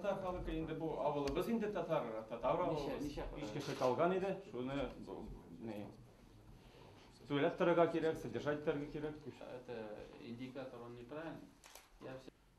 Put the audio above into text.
татар халкы инде бу авылыбыз инде татар татар авылыбыз биш кеше калган иде шуны не түләп торырга кирәк содержать итәргә кирәк это индикатор он неправильный